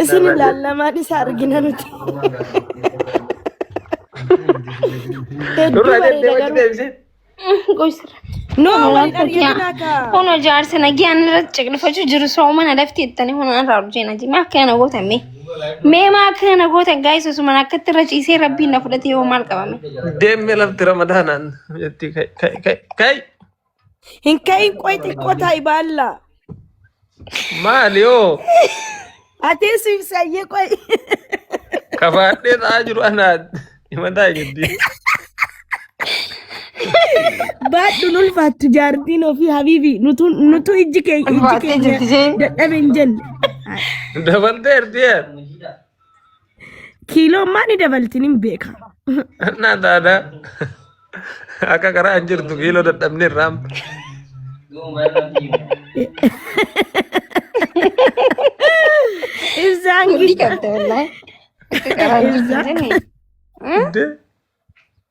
Isin Nama- ilaallamaan isa argina nuti. Hedduu Nurraa bareeda deemtee wajji garuu. deebisee. Goysirra. No, Kun waliin rakkoo argina kiyaa. kaa. Kun ijaarsa nagaan irratti ciqilfachuu jiru soomana lafti ittanii kun irraa hojjena jimee akka kana gootan mee. Mee maa akka kana gootan gaayis osuma akkatti irra ciisee rabbiin na fudhatee yoo maal qabame. Deemee lafti ramadaanaan jetti kai kai kai kai. Hin ka'iin qoy xiqqoo taa'i baallaa. Maali hoo? Atee siif sayyee qoy. Kafaadhee ta'aa jiru anaa himataa jirti. Baadhuun ulfaattu jaartiin ofii habiibi nutu nutu ijji keenya ijji Ulfaattee jirti keenya isheen. dadhabe hin jenne. Dabaltee ertee. Kiiloon maa ni dabaltin hin beeka. Annaa taata akka karaa hin jirtu kiiloo dadhabne irraa Ibsaan Hundi gita. qabda wallahi. Akka karaa hin jirtu jedhani.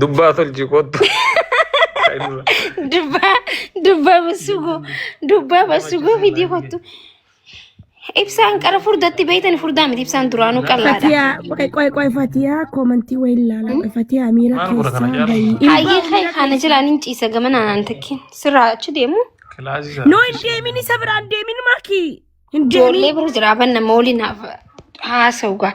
Dubbaa tolchi kottu. Dubbaa dubbaa basugoo dubbaa basugoo fidii kottu. Ibsaan qara furdatti beeytan furdaa miti ibsaan duraanuu qallaadha. Fatiyaa qoy qoy qoy Fatiyaa koomantii wayii ilaalaa qoy Fatiyaa miira Maal godha kana keessaa jaarsi? bayii. Hayyee kee kana jilaan hin ciisa gamana naan takkiin sirraa achi deemu. Kilaasii isaa. Noo hin deemin isa biraa hin deemin maakii. Hin deemin. Ijoollee bira jira aban nama waliin haasa'u gaa.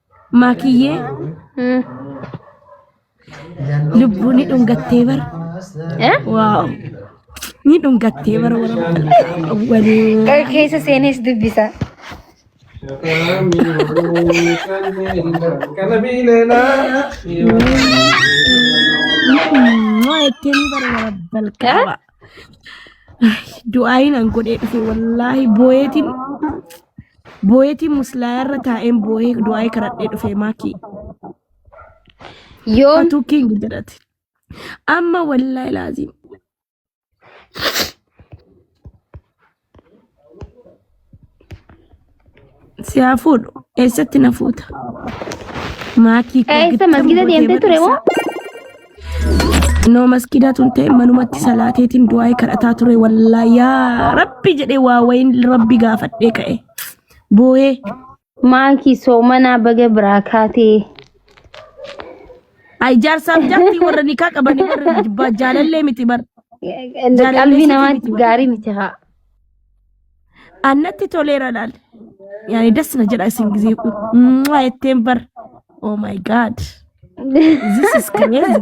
Maakiyyee Hmm. lubbuu ni dhungattee bar. Eh? Waaw. Ni dhungattee bar warra walii. Qoy keessa seenees dubbisa. Maakiyyee ni bar warra balqaba. du'aayin an godhee dhufe wallaahi booyeetiin booyeetiin muslaayaa irra taa'een booyee du'aayi kadhadhee dhufe maakii Yoom atuu kiingi jedhate amma wallaahi laaziim Si haa fuudhu. Eessatti na fuuta? Maakii koo Eessa gittam masgida gootee deemtee ture moo? barreessa. Noo maskidaa tun ta'e manumatti salaateetiin du'aa'ee kadhataa ture wallaahi yaa rabbi jedhee waa wayiin rabbi gaafadhee ka'e. Booyee Maakii soomanaa baga biraa kaatee. Ay jaarsaaf jaartii warra nikaa qabanii warra jibbaa jaalallee miti bar. Qalbii namaatti gaarii miti haa. Annatti toleera laal. Yaani das na jedha isin gizee kun. Mwah, Jetteen bar. Oh my god. This is crazy.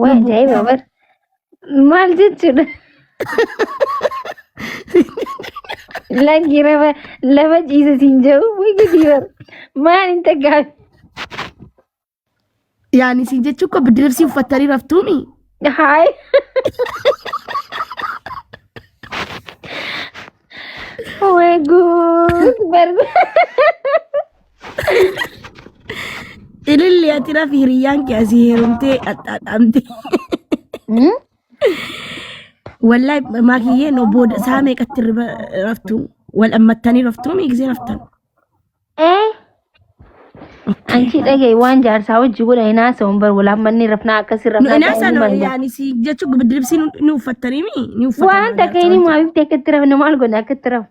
Waa ajaa'iba bar. Maal jechuudha? Lakki lafa lafa ciisa siin jedhu way gadi bar. Maal hin taggaafi? Yaani isin jechuun koo biddi liibsii uffattanii raftuumi. Haay. Way guud bar. Ililli ati rafi hiriyyaan kee asii heerumtee axxaaxaamte. Hmm? Wallahi maakiyyee no booda saa meeqatti irra raftu wal ammattanii raftu miigisee raftan. Eh? Anchi dhagaye waan jaarsaa hojii godha hin haasa'uun bar walaan manni rafnaa akkasi No rafnaa inaa ta'uu sana manna. yaani si jechuun bidiribsii ni uffattanii mi ni uffattanii. Waan takka inni maafiif ta'e akka itti rafne maal godhe akka itti rafne.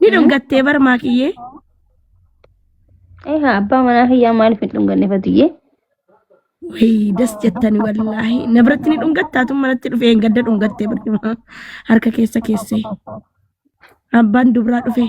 Ni dhungattee bar maakiyyee. Eegaa abbaa manaa kiyyaa maaliif hin dhunganne fatiyyee? Wayii das jettani wallaahi. Na biratti ni dhungattaa tun manatti dhufee hin gadda dhungattee barcuma harka keessa keessee. Abbaan dubraa dhufee.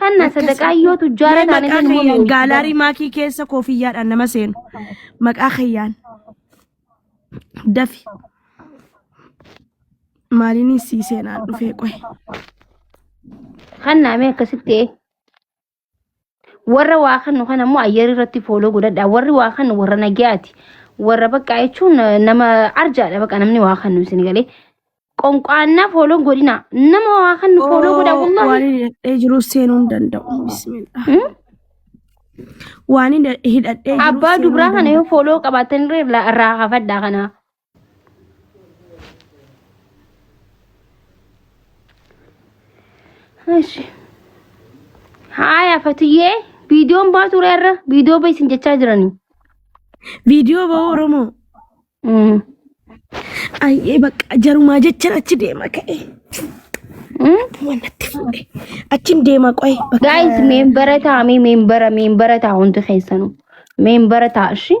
Hanna sadaqaa yoo tujjaara Mee taane maqaa ilmoo keeyyaan mi'eessu. gaalaarii maakii keessa koofiyyaadhaan nama seenu. Maqaa keeyyaan. Dafi. Maaliin sii seenaan dhufee qohe. Hanna mee akkasitti ee. Warra waa kannu kana immoo ayyari irratti fooloo godhadha. Warri waa kannu warra nagayaati. Warra baqqaa jechuun eh, nama arjaadha baqa namni waa kannu isin galee. Qonqaannaa fooloo godhina. Nama waa kannu fooloo godha wallahi. Waan hidhadhee jiru seenuu hin danda'u. Bismillah. Hmm? Waan hidha- hidhadhee jiru Abbaa seenuu dubraa hin kana yoo fooloo qabaatan irra irraa hafadha kana. Eshi. Haaya fatiyyee viidiyoon baa ture irra viidiyoo bahi isin jechaa jiranii. Viidiyoo ba'uu Oromoo. Mm. Ayyee bakka jarumaa jechan achi deema ka'e. Mm? Waan natti fuudhe. Achin deema qo'e. bakka- Guys meembara taa'amee meembara meembara ta'a hundi keessanuu. Meembara ta'a ishii.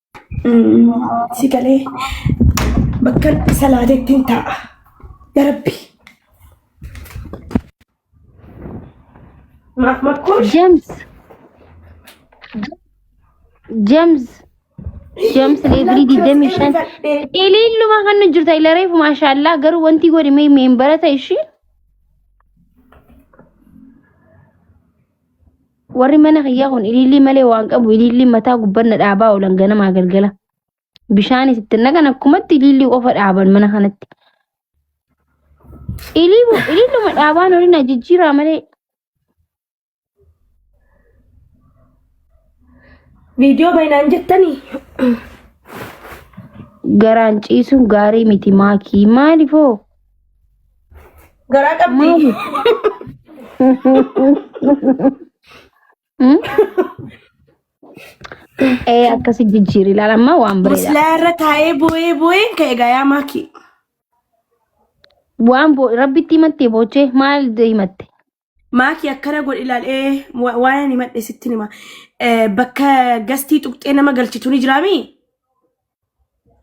Si galee bakkan salaatetti hin taa'a. Ya Rabbi. Maaf makkoo James. James. James leevilii digdamii shan. Iliilluma kan nu jirta ilareef maashaallah garuu wanti godhi mee meembara ta'e ishii. Warri mana kiyyaa kun ilillii malee waan qabu ilillii mataa gubbanna dhaabaa oolan ganamaa galgala. Bishaanis itti naqan akkumatti ilillii qofa dhaaban mana kanatti. Ilillii- Ililluma dhaabaan olin ajijjiiraa malee Viidiyoo baay'inaan jettanii garaan ciisuun gaarii miti maakii maalifoo? Garaa qabdi. Ee akkasi jijjiiri ilaala amma waan bareeda. Muslaa irra taa'ee boo'ee boo'een ka'e gayaa maakii. Waan boo rabbitti himattee boochee maal himatte? Maaki akkana godhi ilaal ee wa- waan ani madhe sitti hima Eh, bakka gastii tuqxee nama galchitu ni jiraami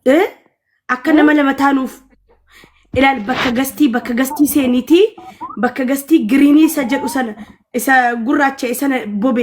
Eh, akka nama lama taanuuf ilaal bakka gastii bakka gastii seeniitii bakka gastii giriinii isa jedhu sana isa gurraacha sana bobe